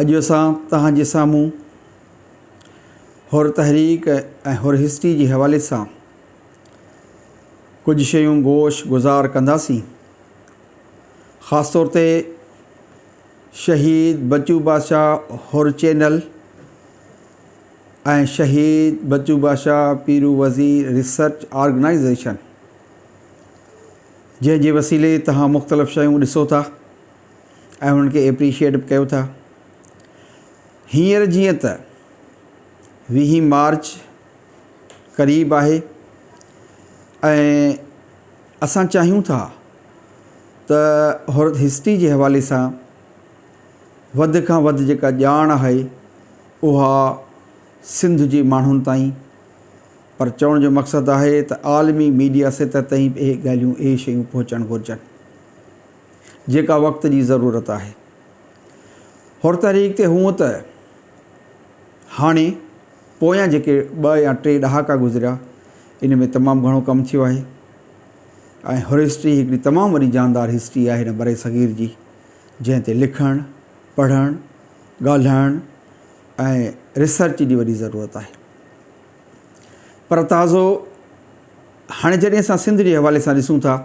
اڄ اسان توهان جي سامهون حر تحريڪ ۽ حر هسٽري جي حوالي سان ڪجهه شيون گوش گذار ڪنداسين خاص طور تي شهيد بچو بادشاهه حر چينل ۽ شهيد بچو بادشاهه پيرو وزير ريسرچ آرگنائيزيشن جنهن جي وسيلي توهان مختلف شيون ڏسو ٿا ۽ انهن کي ايپريشيئيٽ به ڪيو ٿا. هينئر جيئن ته ويهين مارچ قريب آهي ۽ اسان چاهيون ٿا ته هر هسٽري جي حوالي سان وڌ کان وڌ جيڪا ڄاڻ آهي اها سنڌ جي ماڻهن تائين پر چوڻ جو مقصد آهي ته عالمي ميڊيا سطح تائين به اهي ڳالهيون اهي شيون پهچڻ گهرجن. جيڪا وقت جي ضرورت آهي. حر تحريڪ تي هونء ته هاڻي پويان جيڪي ٻه يا ٽي ڏهاڪا گذريا ان ۾ تمام گهڻو ڪم ٿيو آهي ۽ حر هسٽري هڪڙي تمام وڏي جاندار هسٽري آهي هن برصغير جي جنهن تي لکڻ، پڙهڻ، ڳالهائڻ ۽ ريسرچ جي وڏي ضرورت آهي. پر تازو هاڻي جڏهن اسان سنڌ جي حوالي سان ڏسون ٿا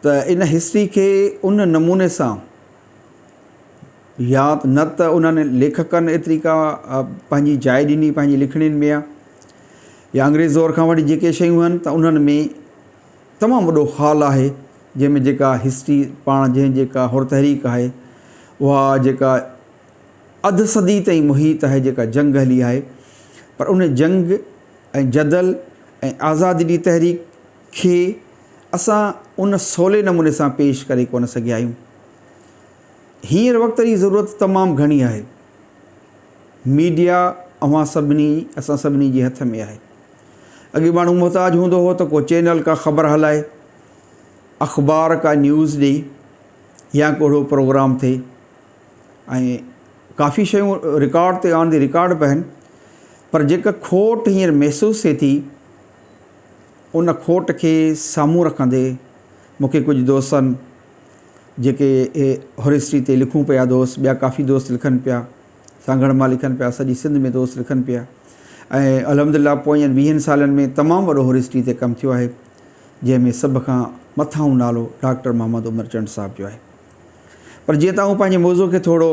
ته ان هسٽري کي ان نموني سان يا نه ته انهن ليکڪن ايتري ڪا پنهنجي جاء ڏني پنهنجي لکڻين ۾ يا انگريز دور کان وٺي جيڪي شيون آهن ته انهن ۾ تمام وڏو خال آهي جنهن ۾ جيڪا هسٽري پاڻ جنهن جيڪا هر تحريڪ آهي اها جيڪا اڌ صدي تائين محيط آهي جيڪا جنگ هلي آهي پر ان جنگ ۽ جدل ۽ آزادي جي تحريڪ کي اسان ان سولي نموني سان پيش ڪري ڪونه سگهيا آهيون. هينئر وقت جي ضرورت تمام گهڻي آهي. ميڊيا اوهان سڀني اسان سڀني جي هٿ ۾ آهي. اڳي ماڻهو محتاج هوندو هو ته ڪو چينل ڪا خبر هلائي، اخبار ڪا نيوز ڏئي يا ڪو اهڙو پروگرام ٿئي. ۽ ڪافي شيون رڪارڊ تي آن دي رڪارڊ به آهن پر جيڪا کوٽ هينئر محسوس ٿئي ٿي ان کوٽ کي سامهون رکندي مون کي ڪجهه دوستن جيڪي هرسٽري تي لکون پيا دوست ٻيا ڪافي دوست لکن پيا سانگهڙ مان لکن پيا سڄي سنڌ ۾ دوست لکن پيا ۽ الحمد لله پوئين ويهن سالن ۾ تمام وڏو هرسٽري تي ڪم ٿيو آهي جنهن ۾ سڀ کان مٿاهون نالو ڊاڪٽر محمد عمر چنڊ صاحب جو آهي. پر جيئن ته آئون پنهنجي موضوع کي ٿورو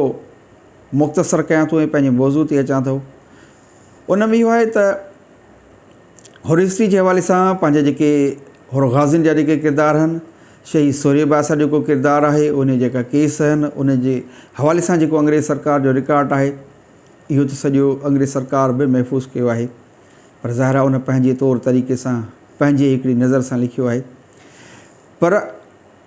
مختصر ڪيان ٿو ۽ پنهنجي موضوع تي اچان ٿو ان ۾ اهو آهي ته حر هسٽري جي حوالي سان پنهنجا جيڪي حر غازين جا جيڪي ڪردار آهن شهيد سوري باسا جو جيڪو ڪردار آهي ان جيڪا ڪيس آهن ان جي حوالي سان جيڪو انگريز سرڪار جو رڪارڊ آهي اهو ته سڄو انگريز سرڪار به محفوظ ڪيو آهي پر ظاهر ان پنهنجي طور طريقي سان پنهنجي هڪڙي نظر سان لکيو آهي پر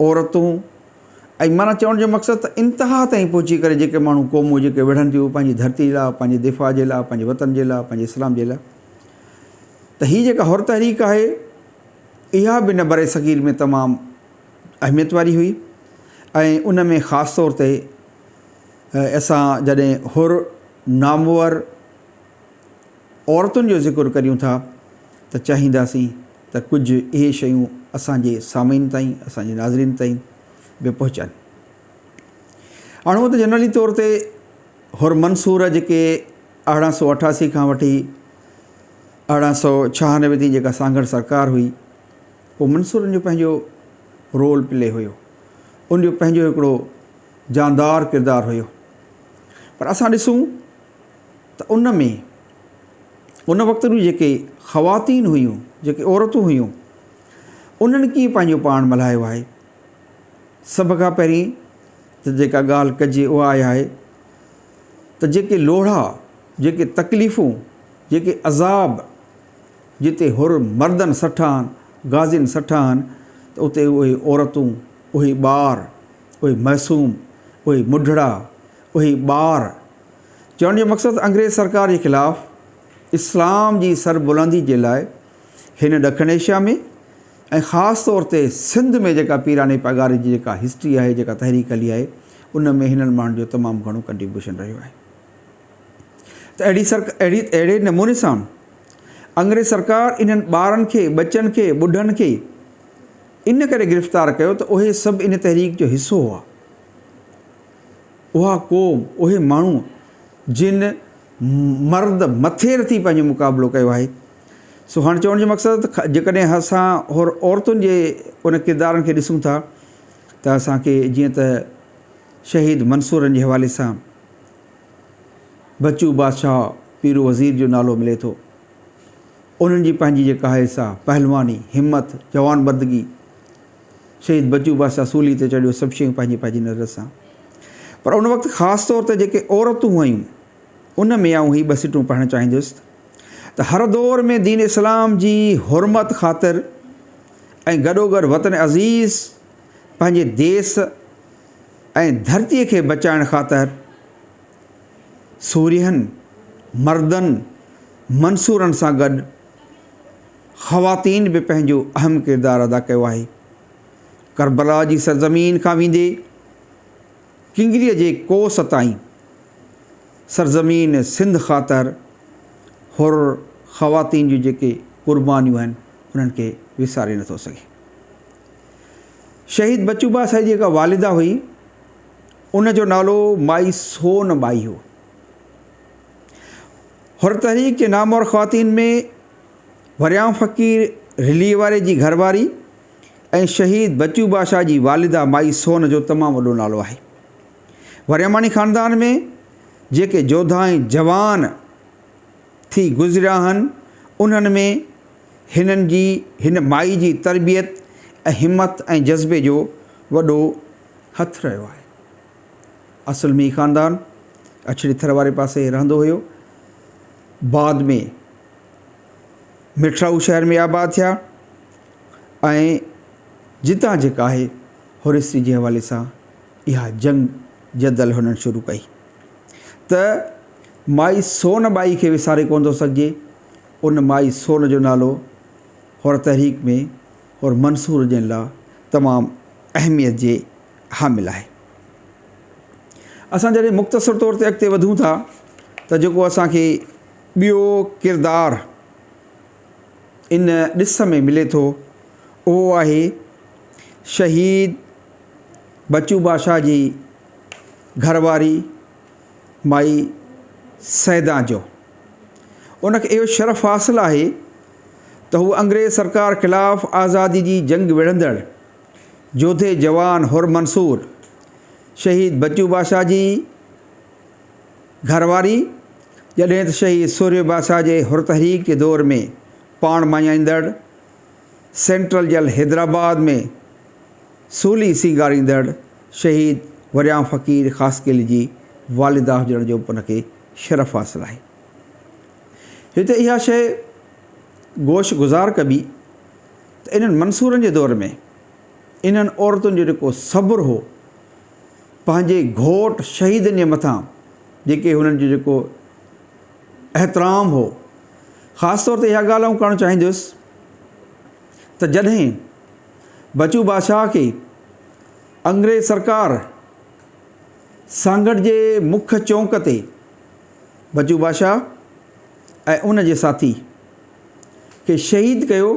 عورتون ۽ معنيٰ چوڻ جو مقصد ته انتها تائين پهچي ڪري جيڪي ماڻهو قومون جيڪي وڙهن ٿيون پنهنجي ڌرتي لاء پنهنجي دفاع جي لاء پنهنجي وطن جي لاء پنهنجي اسلام جي لاء ته هي جيڪا حر تحريڪ آهي اها به نه بر صغير ۾ تمام اهميت واري هئي ۽ ان ۾ خاص طور تي اسان جڏهن حر نامور عورتن جو ذڪر ڪريون ٿا ته چاهينداسين ته ڪجهه اهي شيون اسان جي سامعين تائين، اسان جي ناظرين تائين به پهچن. هاڻ هونئن ته جنرلي طور تي حر منصور جيڪي ارڙهن سؤ اٺاسي کان وٺي ارڙهن سؤ ڇهانوي تائين جيڪا سانگهڙ سرڪار هئي، پوء منصورن جو پنهنجو رول پلي هيو، ان جو پنهنجو هڪڙو جاندار ڪردار هيو. پر اسان ڏسون. ته ان ۾ ان وقت جون جيڪي خواتين هيون، جيڪي عورتون هيون، انهن ڪيئن پنهنجو پاڻ ملهايو آهي. سڀ کان پهرين ته جيڪا ڳالهه ڪجي اها آهي آهي ته جيڪي لوڙها، جيڪي تڪليفون، جيڪي عذاب جتي حر مردن سٺا آهن، غازين سٺا آهن ته اتي اهي عورتون، اهي ٻار، اهي معصوم، اهي مڍڙا، اهي ٻار، چوڻ جو مقصد انگريز سرڪار جي خلاف اسلام جي سربلندي جي لاء هن ڏکڻ ايشيا ۾ ۽ خاص طور تي سنڌ ۾ جيڪا پيراڻي پڳاري جي جيڪا هسٽري آهي جيڪا تحريڪ هلي آهي ان ۾ هنن ماڻهن جو تمام گهڻو ڪنٽريبيوشن رهيو آهي ته اهڙي سرڪ اهڙي اهڙي نموني سان انگريز سرڪار انهن ٻارن کي ٻچن کي ٻڍن کي ان ڪري گرفتار ڪيو ته اهي سڀ ان تحريڪ جو حصو هئا اها قوم، اهي ماڻهو جن مرد مٿي رٿي پنهنجو مقابلو ڪيو آهي. سو هاڻ چوڻ جو مقصد ته جيڪڏهن اسان حر عورتن جي ان ڪردارن کي ڏسون ٿا ته اسان کي جيئن ته شهيد منصورن جي حوالي سان بچو بادشاهه پيرو وزير جو نالو ملي ٿو. انهن جي پنهنجي جيڪا آهي سا پهلواني، همت، جوانمردگي، شهيد بچو بادشاهه سولي تي چڙهيو سڀ شيون پنهنجي پنهنجي نظر سان پر ان وقت خاص طور تي جيڪي عورتون هيون ان ۾ آئون هي ٻه سٽون پڙهڻ چاهيندس ته هر دور ۾ دين اسلام جي حرمت خاطر ۽ گڏوگڏ وطن عزيز پنهنجي ديس ۽ ڌرتي کي بچائڻ خاطر سورهين مردن منصورن سان گڏ خواتين به پنهنجو اهم ڪردار ادا ڪيو آهي. ڪربلا جي سرزمين کان ويندي ڪنگريء جي ڪوس تائين سرزمين سنڌ خاطر حر خواتين جون جيڪي قربانيون آهن انهن کي وساري نٿو سگهي. شهيد بچو باسائي جي جيڪا والده هئي ان جو نالو مائي سون ٻائي هو. حر تحريڪ جي نامور خواتين ۾ وريائون فقير رليء واري جي گهر واري ۽ شهيد بچو باشا جي والده مائي سون جو تمام وڏو نالو آهي. ورياماڻي خاندان ۾ جيڪي جوڌا ۽ جوان ٿي گذريا آهن، انهن ۾ هنن جي هن مائي جي تربيت ۽ همت ۽ جذبي جو وڏو هٿ رهيو آهي. اصل ۾ هي خاندان اڇڙي ٿر واري پاسي رهندو هيو. بعد ۾ مٺڙائو شهر ۾ آباد ٿيا ۽ جتان جيڪا آهي هوريسري جي حوالي سان اها جنگ جدل هنن شروع ڪئي ته مائي سون ٻائي کي وساري ڪونه ٿو سگهجي ان مائي سون جو نالو هور تحريڪ ۾ هور منصور جن لا تمام اهميت جي حامل آهي اسان جڏهن مختصر طور تي اڳتي وڌون ٿا ته جيڪو اسانکي ٻيو ڪردار ان ڏس ۾ ملي ٿو اهو آهي شهيد بچو باشا جي گهر واري مائي سيدان جو. ان کي اهو شرف حاصل آهي ته هوء انگريز سرڪار خلاف آزادي جي جنگ وڙهندڙ جوڌي جوان حر منصور شهيد بچو باشا جي گهرواري، جڏهن ته شهيد سوريو باسا جي حرتحريڪ جي دور ۾ پاڻ مڃائيندڙ، سينٽرل جيل حيدرآباد ۾ سولي سينگاريندڙ شهيد وريان فقير خاصخيلي جي والده هجڻ جو به ان کي شرف حاصل آهي. هتي اها شيء گوش گذار ڪبي ته انهن منصورن جي دور ۾ انهن عورتن جو جيڪو صبر هو، پنهنجي گهوٽ شهيدن جي مٿان جيڪي هنن جو جيڪو احترام هو خاص طور تي اها ڳالهه آئون ڪرڻ چاهيندس ته جڏهن بچو بادشاهه کي انگريز سرڪار سانگهڙ جي مک چونڪ تي بچو بادشاهه ۽ ان جي ساٿي کي شهيد ڪيو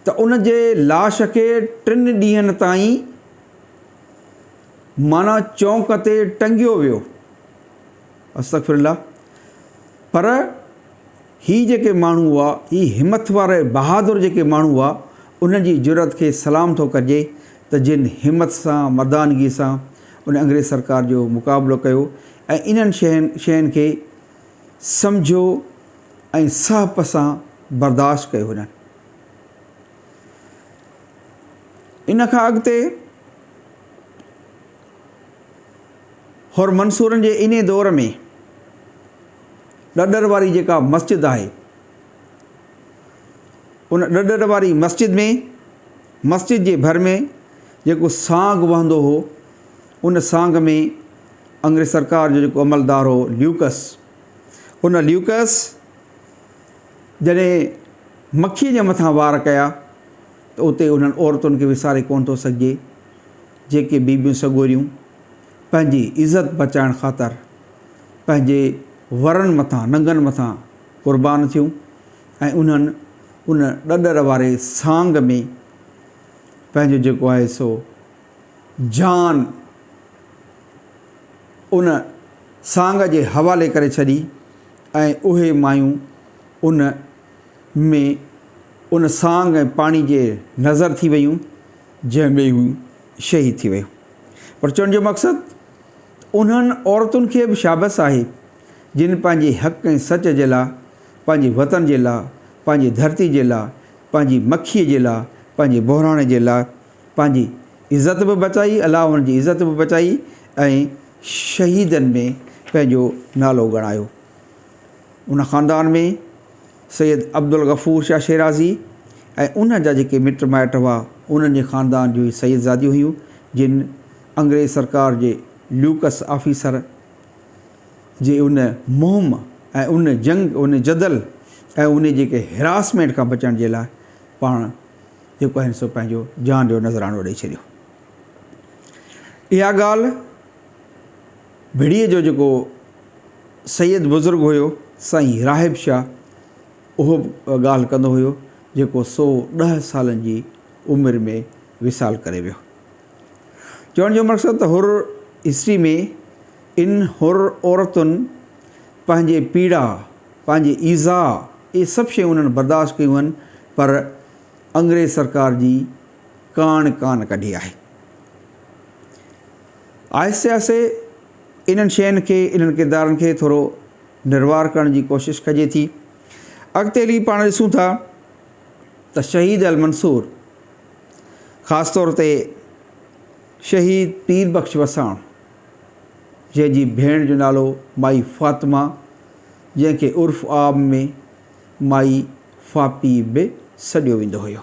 ته ان جي لاش کي ٽن ڏينهن تائين معنيٰ چونڪ تي ٽنگيو ويو. استغفر الله پر هي جيڪي ماڻهو هئا هي همٿ وارا ۽ بهادر جيڪي ماڻهو هئا انهن جي جرئت کي سلام ٿو ڪجي ته جن همٿ سان مردانگي سان ان انگريز سرڪار جو مقابلو ڪيو ۽ انهن شين کي سمجهيو ۽ سهپ سان برداشت ڪيو انهن ان کان اڳتي حر منصورن جي انهي دور ۾ ڏڏر واري جيڪا مسجد آهي ان ڏڏر واري مسجد ۾ مسجد جي ڀر ۾ جيڪو سانگ وهندو هو ان سانگ ۾ انگريز سرڪار جو جيڪو عملدار هو ليوڪس ان ليوڪس جڏهن مکيء جي مٿان وار ڪيا ته اتي انهن عورتن کي وساري ڪونه ٿو سگهجي، جيڪي بيبيون سڳوريون پنهنجي عزت بچائڻ خاطر پنهنجي ورن مٿان، ننگن مٿان قربان ٿيون ۽ انهن ان ڏڏر واري سانگ ۾ پنهنجو جيڪو آهي سو جان ان سانگ جي حوالي ڪري ڇڏي. ۽ اهي مايون ان ۾ ان سانگ ۽ پاڻي جي نظر ٿي ويون جنهن ۾ هو شهيد ٿي ويو پر چوڻ جو مقصد انهن عورتن کي به شابس آهي جن پنهنجي حق ۽ سچ جي لا پنهنجي وطن جي لا پنهنجي ڌرتي جي لا پنهنجي مکي جي لا پنهنجي بحراڻي جي لا پنهنجي عزت به بچائي الله هن جي عزت به بچائي ۽ شهيدن ۾ پنهنجو نالو ڳڻايو ان خاندان ۾ سيد عبدالغفور شاهه شيرازي ۽ ان جا جيڪي مٽ مائٽ هئا انهن جي خاندان جون هي سيدزاديون هيون جن انگريز سرڪار جي ليوڪس آفيسر جي ان مهم ۽ ان جنگ ان جدل ۽ ان جيڪي هراسمينٽ کان بچڻ جي لاء پاڻ جيڪو آهن سو پنهنجو جان جو نذرانو ڏئي ڇڏيو. اها ڳالهه ڀڙيء جو جيڪو سيد بزرگ هيو سائين راهب شاهه اهو به ڳالهه ڪندو هيو جيڪو سو ڏهه سالن جي عمر ۾ وصال ڪري ويو. چوڻ جو مقصد ته حر هسٽري ۾ ان حر عورتن پنهنجي پيڙا، پنهنجي ايذاء اهي سڀ شيون انهن برداشت ڪيون هن پر انگريز سرڪار جي ڪاڻ ڪانه ڪڍي آهي. آهستي آهستي انهن شين کي، انهن ڪردارن کي ٿورو نروار ڪرڻ جي ڪوشش ڪجي ٿي. اڳتي هلي پاڻ ڏسون ٿا ته شهيد المنصور، خاص طور تي شهيد پير بخش وساڻ، جنهن جي ڀيڻ جو نالو مائي فاطمه، جنهن کي عرف عام ۾ مائي ڦاپي به سڏيو ويندو هيو.